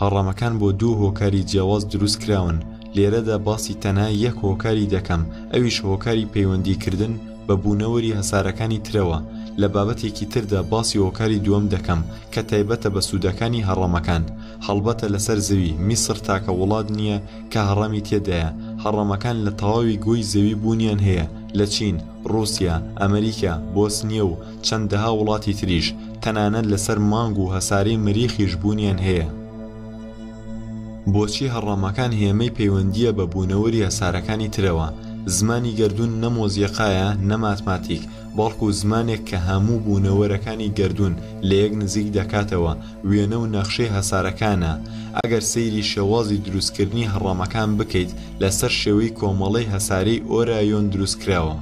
هەڕەمەکان بۆ دوو هۆکاری جیاواز دروست کراون، لێرەدا باسی تەنها یەک هۆکاری دەکەم ئەویش هۆکاری پەیوەندی کردن بە بوونەوەری هەسارەکانی ترەوە، لە بابەتێکی تردا باسی هۆکاری دووەم دەکەم کە تایبەتە بە سوودەکانی هەڕەمەکان، هەڵبەتە لەسەر زەوی، میسر تاکە وڵات نییە کە هەڕەمی تێدایە، هەڕەمەکان لە تەواوی گۆی زەوی بوونیان هەیە، لە چین، ڕووسیا، ئەمریکا، بۆسنیە و. چەندەها وڵاتی تریش تەنانەت لەسەر مانگ و هەسارەی مەریخیش بوونیان هەیە. بۆچی هەڕەمەکان هێمەی پەیوەندییە بە بوونەوەری هەسارەکانی ترەوە؟ زمانی گەردوون نە مۆزیقایە، نە ماتماتیک، بەڵکو زمانێک کە هەموو بوونەوەرەکانی گەردوون لە یەک نزیک دەکاتەوە، وێنە و نەخشەی هەسارەکانە. ئەگەر سەیری شێوازی دروستکردنی هەڕەمەکان بکەیت، لەسەر شێوەی کۆمەڵەی هەسارەی ئۆرایۆن دروستکراوە.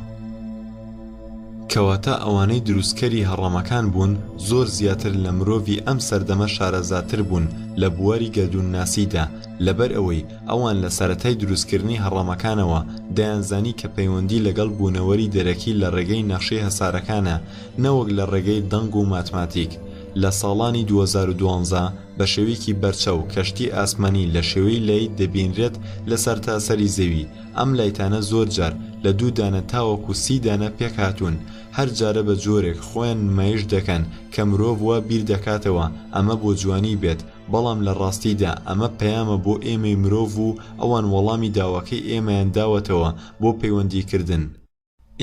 کەواتە ئەوانەی دروستکەری هەڕەمەکان بوون زۆر زیاتر لە مرۆڤی ئەم سەردەمە شارەزاتر بوون لە بواری گەردوونناسیدا لەبەر ئەوەی ئەوان لە سەرەتای دروستکردنی هەڕەمەکانەوە دەیانزانی کە پەیوەندی لەگەڵ بوونەوەری دەرەکی لە ڕێگەی نەخشەی هەسارەکانە نەوەک لە ڕێگەی دەنگ و ماتماتیک لە ساڵانی دوو هەزار و دوازدە بە شێوەیەکی بەرچاو کەشتی ئاسمانی لە شێوەی لەیت دەبینرێت لە سەرتاسەری زەوی ئەم لایتانە زۆر جار لە دوو دانە تاوەکو سی دانە پێکهاتوون، هەر جارە بە جۆرێک خۆیان نمایش دەکەن کە مرۆڤ وا بیر دەکاتەوە ئەمە بۆ جوانی بێت، بەڵام لە ڕاستیدا ئەمە پەیامە بۆ ئێمەی مرۆڤ و ئەوان وەڵامی داواکەی ئێمەیان داوەتەوە بۆ پەیوەندیکردن.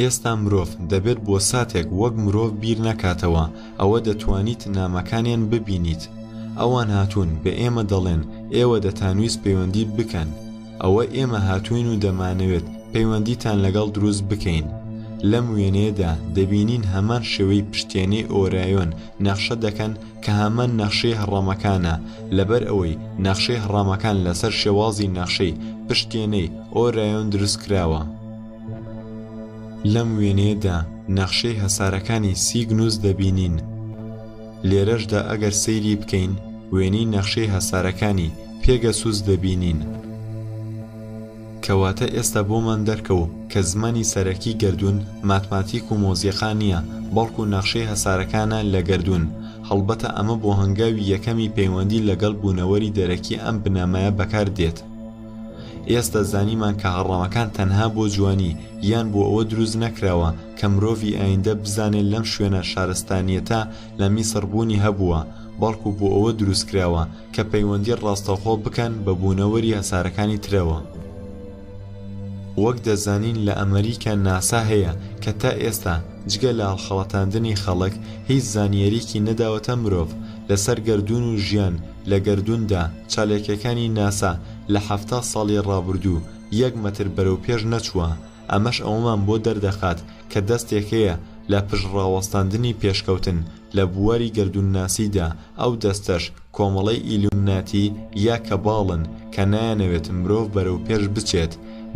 ئێستا مرۆڤ دەبێت بۆ ساتێک وەک مرۆڤ بیر نەکاتەوە، ئەوە دەتوانیت نامەکانیان ببینیت، ئەوان هاتوون بە ئێمە دەڵێن ئێوە دەتانویست پەیوەندی بکەن، ئەوە ئێمە هاتووین و دەمانەوێت پەیوەندیتان لەگەڵ دروست بکەین. لەم وێنەیەدا دەبینین هەمان شێوەی پشتێنەی ئۆرایۆن نەخشە دەکەن کە هەمان نەخشەی هەڕەمەکانە لەبەر ئەوەی نەخشەی هەڕەمەکان لەسەر شێوازی نەخشەی پشتێنەی ئۆرایۆن دروست کراوە. لەم وێنەیەدا نەخشەی هەسارەکانی سیگنوس دەبینین. لێرەشدا ئەگەر سەیری بکەین وێنەی نەخشەی هەسارەکانی پێگەسوس دەبینین. کەواتە ئێستا بۆمان دەرکەو کە زمانی سەرەکی گەردوون ماتماتیک و مۆزیقا نییە بەڵکو نەخشەی هەسارەکانە لە گەردوون، هەڵبەتە ئەمە بۆ هەنگاوی یەکەمی پەیوەندی لەگەڵ بوونەوەری دەرەکی ئەم بنەمایە بەکار دێت. ئێستا زانیمان کە هەڕەمەکان تەنها بۆ جوانی یان بۆ ئەوە دروست نەکراوە کە مرۆڤی ئایندە بزانێت لەم شوێنە شارستانیەتە لە میسڕ بوونی هەبووە بەڵکو بۆ ئەوە دروست کراوە کە پەیوەندی ڕاستەوخۆ بکەن بە بوونەوەری هەسارەکانی ترەوە. وەک دەزانین لە ئەمەریکا ناسا هەیە کە تا ئێستا جگە لە هەڵخەڵەتاندنی خەڵک هیچ زانیاریەکی نەداوەتە مرۆڤ لەسەر گەردوون و ژیان لە گەردووندا چالاکییەکانی ناسا لە حەفتا ساڵی ڕابوردوو یەک مەتر بەرەو پێش نەچووە، ئەمەش ئەوەمان بۆ دەردەخات کە دەستێک هەیە لە پشت ڕاوەستاندنی پێشکەوتن لە بواری گەردوونناسیدا، ئەو دەستەش کۆمەڵەی ئیلومناتی یا کەباڵن کە نایانەوێت مرۆڤ بەرەو پێش بچێت،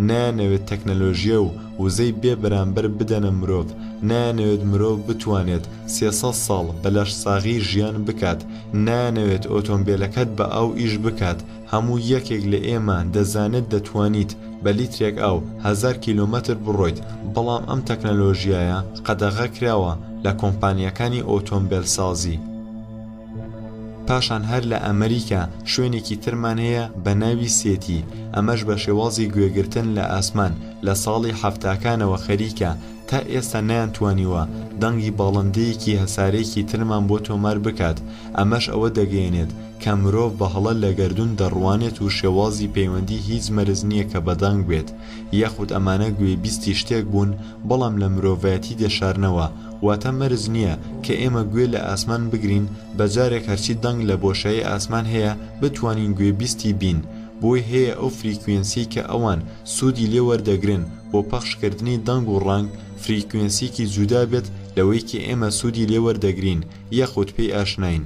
نایانەوێت تەکنەلۆژیا و وزەی بێ بەرامبەر بدەنە مرۆڤ، نایانەوێت مرۆڤ بتوانێت سێ سەد ساڵ بە لەشساغی ژیان بکات، نایانەوێت ئۆتۆمبێلەکەت بە ئاو ئیش بکات، هەموو یەکێک لە ئێمە دەزانێت دەتوانیت بە لیترێک ئاو هەزار کیلۆمەتر بڕۆیت، بەڵام ئەم تەکنەلۆژیایە قەدەغەکراوە لە کۆمپانیاکانی ئۆتۆمبێلسازی. پاشان هەر لە ئەمریکا شوێنێکی ترمان هەیە بە ناوی سێتی ئەمەش بە شێوازی گوێگرتن لە ئاسمان لە ساڵی حەفتاکانەوە خەریکە تا ئێستا نیان توانیوە دەنگی باڵندەیەکی هەسارەیەکی ترمان بۆ تۆمار بکات ئەمەش ئەوە دەگەیەنێت کە مرۆڤ بە هەڵە لە گەردوون دەڕوانێت و شێوازی پەیوەندی هیچ مەرز نییە کە بە دەنگ بێت یاخود ئەمانە گوێبیستی شتێک بوون بەڵام لە مرۆڤایەتی دەشارنەوە واتە مەرج نییە کە ئێمە گوێ لە ئاسمان بگرین بە جارێک هەرچی دەنگ لە بۆشایی ئاسمان هەیە بتوانین گوێبیستی بین بۆی هەیە ئەو فریکوێنسیەی کە ئەوان سوودی لێ وەردەگرن بۆ پەخش کردنی دەنگ و ڕەنگ فریکوێنسیەکی جودا بێت لەوەی کە ئێمە سوودی لێ وەردەگرین یاخود پێی ئاشناین.